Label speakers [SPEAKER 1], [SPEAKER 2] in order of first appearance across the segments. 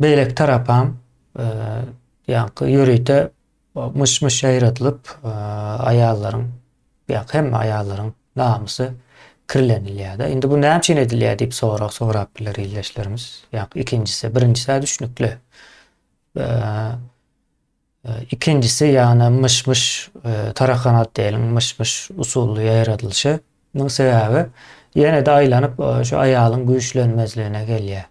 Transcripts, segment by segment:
[SPEAKER 1] Beýleki tarapam ýaňky ýörite myş-myş ýaýradylyp, aýallaryň, ýaňky hemme aýallaryň namysy kirlenilýär-de. Indi bu näme üçin edilýär diýip sorag sorap biler ildeşlerimiz. Ýaňky ikinjisi, birinjisi-ä düşnükli. Ikinjisi ýagny myş-myş tarakanat diýeliň, myş-myş usully ýaýradylyşy. Munuň sebäbi ýene-de aýlanyp şu aýalyň güýçlenmezligine gelýär.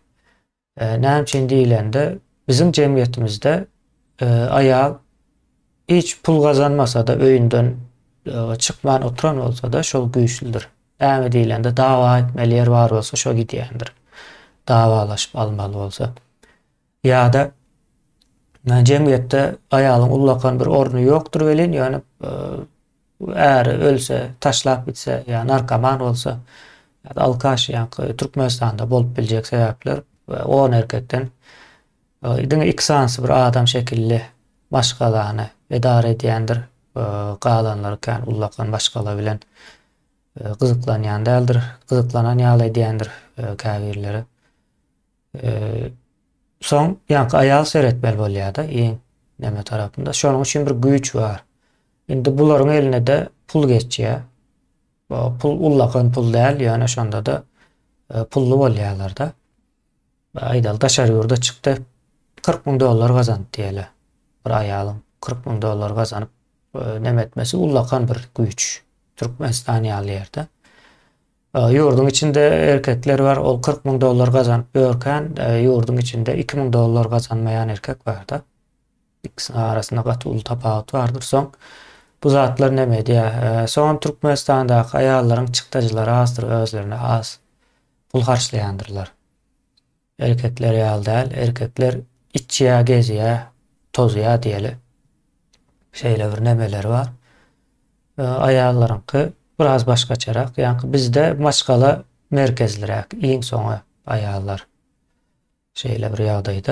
[SPEAKER 1] Näme üçin diýlende, biziň jemgyýetimizde aýal hiç pul gazanmasa-da, öýünden çykman oturan bolsa-da, şol güýçlüdir. Näme diýlende, dawa etmeli ýer bar bolsa, şo gidýändir. Dawalaşyp almaly bolsa. Ýa-da jemgyýetde aýalyň ullakan bir orny ýokdur welin, ýöne Äri ölse, taşlap gitse ýa narkoman bolsa ýa-da alkaş ýaňky Türkmenistanda bolup biljek sebäpler we on erkekden diňe iki sanysy bir adam şekilli maşgalany edara edýändir, galanlary kän ullakan maşgala bilen gyzyklanýan däldir, gyzyklanan ýaly edýändir käbirleri. Soň ýaňky aýagy seretmeli bolýar-da, iň näme tarapynda. Şonuň üçin bir güýç bar. Indi bularyň eline-de pul geçýär. Bu pul ullakan pul däl, ýöne şonda-da e, pully bolýarlar-da. Aýdaly, daşary ýurda çykdy, 40 müň dollar gazandy diýeli. Bir aýalyň 40 müň dollar gazanyp e, nemetmesi ullakan bir güýç. Türkmenistan ýaly ýerde. Ýurduň içinde erkekler bar, ol kyrk müň dollar gazanyp ýörkän, ýurduň içinde iki müň dollar gazanmaýan erkek bar-da. Ikisiniň arasynda gaty uly tapawut bardyr. Soň bu zatlar näme edýär? Soňam Türkmenistandaky aýallaryň çykdajylary azdyr, özlerine az pul harçlaýandyrlar. Erkekler ýaly däl, erkekler içýä gezýä tozýa diýeli. Şeýle bir nemeleri bar. Aýallaryňky biraz başgaçarak. Ýaňky bizde maşgala merkezliräk iň soňy aýallar. Şeýle bir ýagdaýda.